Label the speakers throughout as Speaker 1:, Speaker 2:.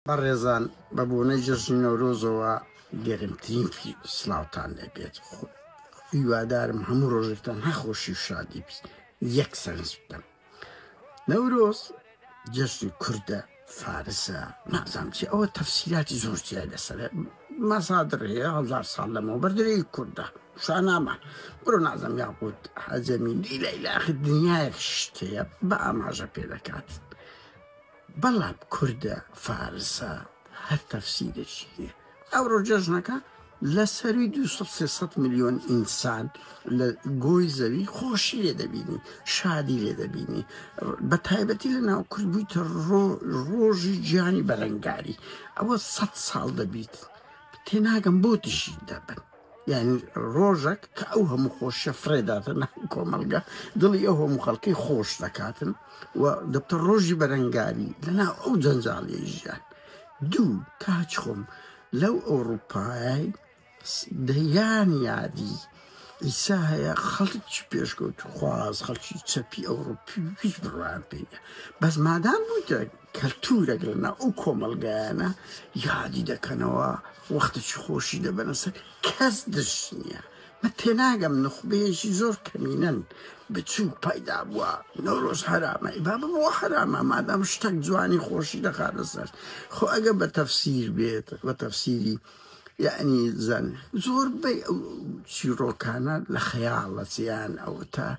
Speaker 1: بەڕێزان بە بۆنەی جەژنی نەورۆزەوە گەرمترین سڵاوتان لێبێت خۆ هیوادارم هەموو ڕۆژێکتان هەخۆشی و شادی بیست یەک سەرنج بدەم نەورۆز جەژنی کوردە فارسە نازام چی ئەوە تەفسیراتی زۆر جیای لەسەر مەسادر هەیە هەزار ساڵ لەمەوە بەردەی کوردە شانامە بڕۆ نازم یاقوت حەجەمی دیلە لە ئاخر دنیایەک شتەیە بە ئاماژە پێ دەکات بەڵام کوردە فارسە هەر تەفسیرێکی هەیە ئەوڕۆ جەژنەکە لە سەرووی دوو سەد سێ سەد ملیۆن ئینسان لە گۆی زەوی خۆشی لێ دەبینی شادی لێ دەبینی بە تایبەتی لە ناو کورد بوویتە ڕۆ ڕۆژی گیانی بەرەنگاری ئەوە سەد ساڵ دەبیت تێناگەم بۆ دژی دەبن یانی ڕۆژەک کە ئەو هەموو خۆشیە فڕێداتە ناو کۆمەڵگە دڵی ئەو هەموو خەڵکی خۆش دەکاتن و دەبتە ڕۆژی بەرەنگاری لەناو ئەو جەنجاڵی ژیان دوو کاچ خۆم لەو ئەوروپای دەیان یادی ئیسا هەیە خەڵکی پێشکەوت خواز خەڵکی چەپی ئەوروپی هیچ بڕوان پێ بەس مادام بوویتە کەلتور دەگرنە ئەو کۆمەڵگایانە یادی دەکەنەوە وەختەکی خۆشی دەبەنە سەر کەس دژ نیە من تێناگەم نوخبەیەکی زۆر کەمینەن بچوک پایدا بووە نەورۆز حەرامە ئیبا ببووە حەرامە مادام شتەک جوانی خۆشی دەخاتە سەر خۆ ئەگە بە تەفسیر بێت بە تەفسیری یەعنی زن زۆربەی ئەو چیڕۆکانە لە خەیاڵە چیان ئەوەتا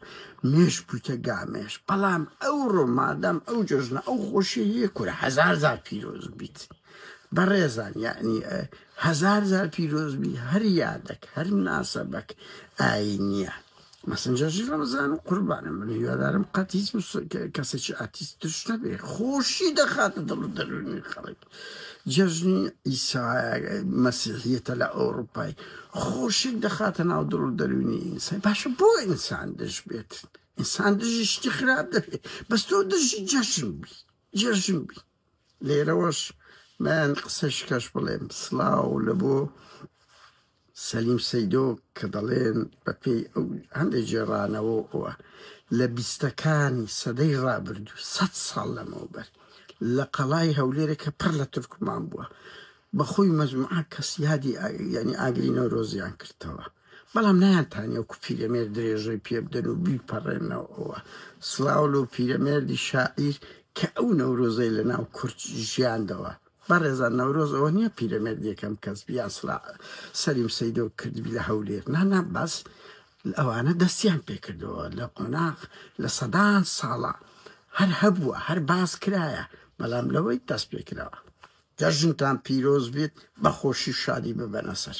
Speaker 1: مێش بوویتە گامێش بەڵام ئەو ڕۆمادەم ئەو جژنە ئەو خۆشی هەیە کورە هزار زار پیرۆز بیت بەڕێزان یعنی هزار زار پیرۆزبی هەر یادەک هەر ناسەبەک ئاینیە مەسنجەرجی ڕەمەزان قوربانم بم هیوادارم قەت هیچ کەسێکی ئاتیست توش نەبێ خۆشی دەخاتە دڵ و دەرونی خەڵک جەژنی ئیسا مەسیحیەتە لە ئەوروپای خۆشی دەخاتە ناو دڵ و دەرونی ئینسان باشە بۆ ئینسان دژ بێت ئینسان دژی شتی خراپ دەبێت بەس تۆ دژی جەژن بی جەژن بی لێرەوەش من قسەشکەش بڵێم سڵاو لە بۆ سەلیم سەیدۆ کە دەڵێن بە پێی ئەو هەندێک جێڕانەوە ئەوە لە بیستەکانی سەدەی ڕابردوو سە ساڵ لەمەوبەر لە قەڵای هەولێرە کە پڕ لە تورکمان بووە بەخۆی مەزمعە کەسیادی ینی ئاگری نەورۆزیان کردەوە بەڵام نایانتانی ئەو پیرەمێرد درێژەی پێ بدەن و بیپەڕێنەوە. سڵاو لەو پیرەمێردی شاعیر کە ئەو نەورۆزەی لە ناو کورد ژیاندەوە. بەڕێزان نەورۆز ئەوە نییە پیرەمێرد یەکەم کەس بی یان سڵا سەلیم سەیدۆ کردبی لە هەولێر. نا نا بەس ئەوانە دەستیان پێ کردەوە لە قۆناغ لە سەدان ساڵە هەر هەبووە هەر باس کرایە بەڵام لەوەی دەست پێ کراوە. جەژنتان پیرۆز بێت بە خۆشی و شادی ببەنە سەر.